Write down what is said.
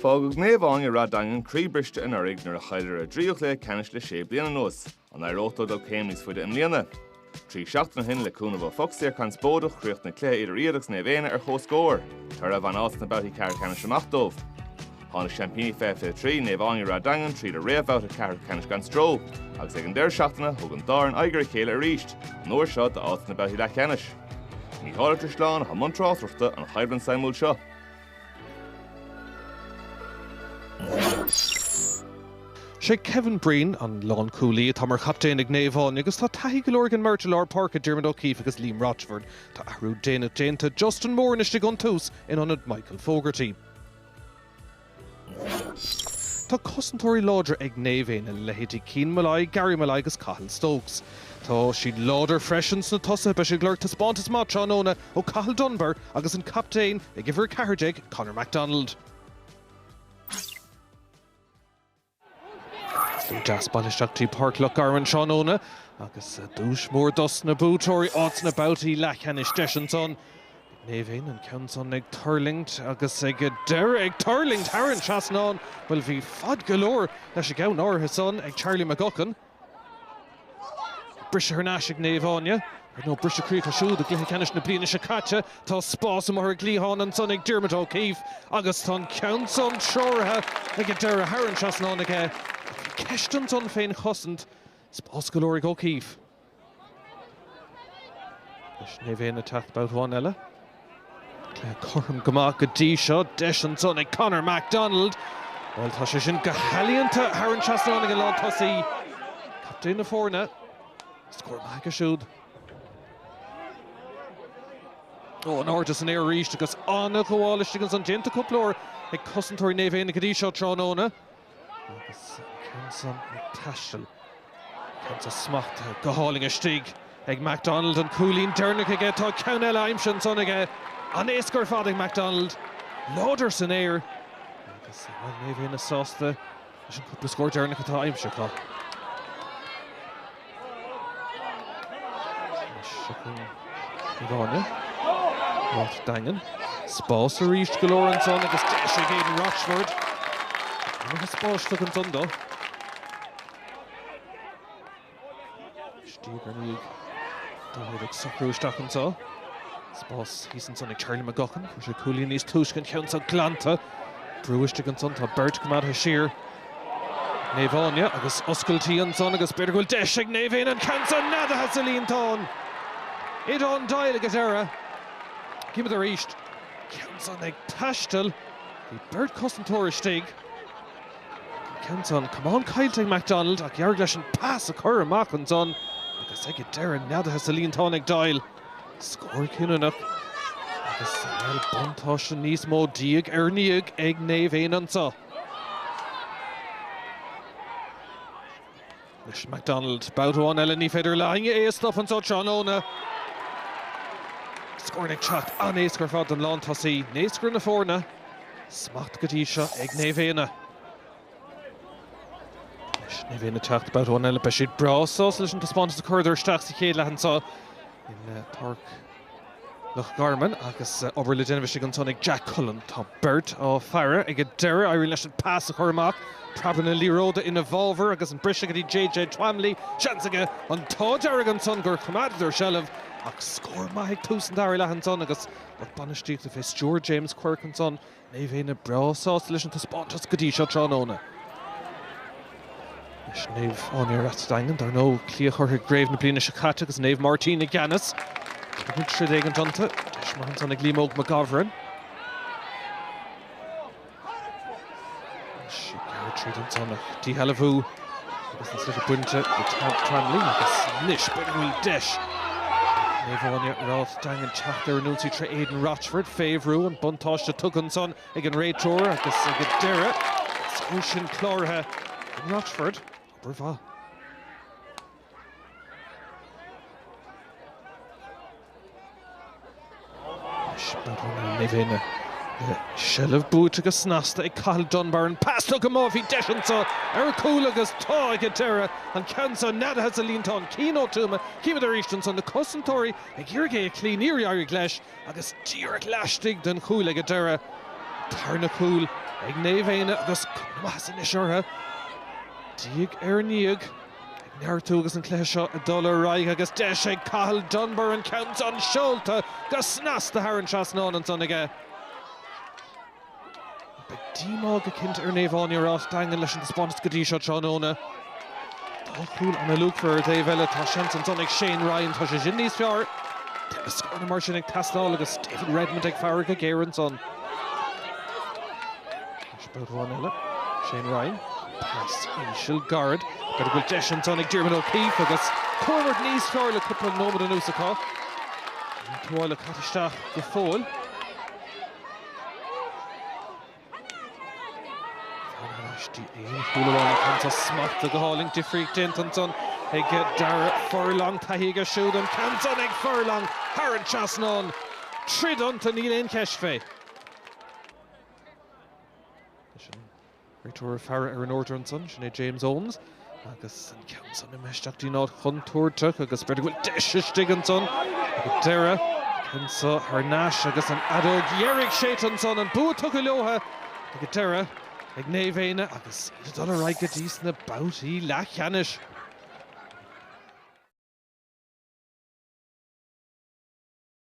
Fágadh Naomh Áine Ráth Daingean croíbhriste anuraidh nuair a chailleadar a dtríú cluiche ceannais le sé bliana anuas. An éireoidh leo dul céim níos faide i mbliana? Trí seachtaine ó shin, le cúnamh ó phoc saor conspóideach, chríochnaigh cluiche idir iad agus Naomh Éanna ar comhscór, toradh a bhain áit sna babhtaí ceathrú ceannais amach dóibh. Tháinig seaimpíní 2023, Naomh Áine Ráth Daingean, tríd an réamhbhabhta ceathrú ceannais gan stró, agus ag an deireadh seachtaine, thug an dá fhoireann aghaidh ar a chéile arís, an uair seo d'áit sna babhtaí leathcheannais. Mícheál Ó Drisleáin atá i mbun tráchtaireachta don choimhlint suimiúil seo. Sé Kevin Breen an lán-cúlaí atá mar chaptaen ag Naomh Áine agus tá taithí go leor ag an mbeirt i lár páirce, Diarmuid O'Keeffe agus Liam Rochford. Tá athrú déanach déanta, Justin Moran istigh ón tús in ionad Michael Fogarty. Tá cosantóirí láidre ag Naomh Éanna, leithéidí Cian Molloy, Gary Molloy agus Cathal Stokes. Tá siad láidir freisin sna tosaithe. Beidh siad ag lorg taispeántas maith tráthnóna ó Cathal Dunbar agus an captaen ag uimhir 14, Conor McDonald. Deas bailithe isteach go dtí Páirc Loch Garman tráthnóna agus duais mór dos na buaiteoirí, áit sna babhtaí leathcheannais. Deis ansan ag Naomh Éanna an ceann san ag tuirlingt agus ag deireadh ag tuirlingt thar an trasnán. Bhuel bhí fad go leor leis an gceann áirithe san ag Charlie McGuckin. Briseadh thar n-ais ag Naomh Áine, ar ndóigh. Briseadh croí acu siúd i gcluiche ceannais na bliana seo caite. Tá spás amuigh ar an gcliathán ansan ag Diarmuid O'Keeffe agus tá an ceann san treoraithe ag an deireadh thar an trasnán aige. Ceist ansan fén chosaint. Spás go leor ag O'Keeffe. Anois Naomh Éanna ag teacht babhta amháin eile. Cluiche cothrom go maith go dtí seo, deis ansan ag Conor McDonald. Bhuel tá sé sin go healaíonta thar an trasnán ag an lántosaí, captaen na foirne. Scór maith aige siúd. Ó in airde san aer arís agus an-ghabháil istigh ansan. Déanta cúpla uair ag cosantóirí Naomh Éanna go dtí seo tráthnóna. Agus an ceann san ag taisteal, ceann san smachtaithe go hálainn istigh ag McDonald. An cúilín deireanach aige. Tá ceann eile aimsithe ansan aige. An-éasca ar fad ag McDonald. Láidir san aer. Agus beidh Naomh Éanna sásta leis an gcúpla scór deireanach atá aimsithe acu. Áine Ráth Daingean. Spás arís go leor ansan agus deis ag Aidan Rochford. Iomarca spáis tugtha ansan dó. Diaidh ar ndiaidh dá thaobh ag socrú isteach anseo. Spás thíos ansan ag Charlie McGuckin. Fuair sé cúilín níos túisce an ceann seo glanta. Brú istigh ansan. Tá beirt coimeádtha siar. Naomh Áine agus oscailtí ansan agus b'fhéidir go bhfuil deis ag Naomh Éanna an ceann so neadaithe sa líontán. Aodhán Doyle ag an deireadh. Címid arís an ceann san ag taisteal. Bhí beirt cosantóir istigh ansan, camán caillte ag McDonald ach d'éirigh leis an pas a chur amach ansan agus ag an deireadh neadaithe sa líontán ag Doyle. Scór cinniúnach agus bhuel buntáiste níos mó diaidh ar ndiaidh ag Naomh Éanna anso. Anois McDonald, babhta amháin eile ní féidir le héinne é a stopadh anso tráthnóna. Scóranna ag teacht an-éasca ar fad don lántosaí, naoscaire na foirne, smacht go dtí seo ag Naomh Éanna. Anois Naomh Éanna ag teacht babhta amháin eile, beidh siad breá sásta leis an taispeántas a chuireadar isteach sa chéad leath anseo i bPáirc Loch Garman agus obair le déanamh istigh ansan ag Jack Cullen. Tá beirt á faire ag an deireadh. Éiríonn leis an pas a chur amach, preab na liathróide ina bhfabhar agus an briseadh go dtí JJ Twamley. Seans aige an t-ádh dearg ansan gur choimeádadar seilbh ach scór maith ag tús an dara leath ansan agus lucht bainistíochta fé stiúir James Quirke ansan, Naomh Éanna breá sásta leis an taispeántas go dtí seo tráthnóna. Anois Naomh Áine Ráth Daingean, dar ndóigh. Cloíodh orthu i gcraobh na bliana seo caite agus Naomh Máirtín i gceannas. Beagnach troid éigin iontu. Deis mhaith ansan ag Liam Óg McGovern. Is ag gearradh tríd ansan, an díshealbhú agus an sliotar bainte de Twamley agus anois b'fhéidir go bhfuil deis ag Naomh Áine, Ráth Daingean teacht ar an ionsaí tré Aidan Rochford. Fé bhrú, an buntáiste tugtha ansan ag an réiteoir agus ag an deireadh an scór san cláraithe ag Rochford. Obair mhaith. Naomh Éanna, seilbh buaite go snasta ag Cathal Dunbar, an pas tugtha amach, bhí deis anseo ar chúl agus tá ag an deireadh, an ceann seo neadaithe sa líontán, Cian Ó Tuama, chímid arís anso na cosantóirí ag iarraidh é a chloí, níor éirigh leis agus díreach laistigh den chúl ag an deireadh, tarna cúl ag Naomh Éanna agus cuma maitheasa anois orthu, diaidh ar ndiaidh. Ag neartú agus an cluiche seo ag dul ar aghaidh agus deis ag Cathal Dunbar an ceann san seolta go snasta thar an trasnán ansan aige. Beidh díomá go cinnte ar Naomh Áine Ráth Daingean leis an taispeántas go dtí seo tráthnóna. Dá chúl ana-luachmhar. Ar an dtaobh eile tá seans ansan ag Shane Ryan, tá sé sin níos fearr. Tá na scóranna mar sin ag teastáil agus David Redmond ag faire go géar ansan. Sméid amháin eile, Shane Ryan, pas íseal gairid, cé go bhfuil deis ansan ag Diarmuid O'Keefe agus coimhlint níos fearr le cúpla nóiméad anuas acu. An tuáille caite isteach go fóill. Tagann aistear aon chúl amháin ach anso smacht go hálainn difríocht déanta ansan ag Darragh Furlong. Taithí aige siúd an ceann san ag Furlong thar an trasnán. Troid iontu, níl aon cheist fé. Leis an réiteoir ag faire ar an airdeall ansan, sin é James Owens. Agus an ceann san imithe isteach go dtí'n áit chontúirteach agus b'fhéidir go bhfuil deis istigh ansan ag an deireadh. Ceann seo thar n-ais agus an fheadóg dheiridh séidte ansan, an bua tugtha leotha ag an deireadh ag Naomh Éanna agus iad ag dul ar aghaidh go dtí's na babhtaí leathcheannais.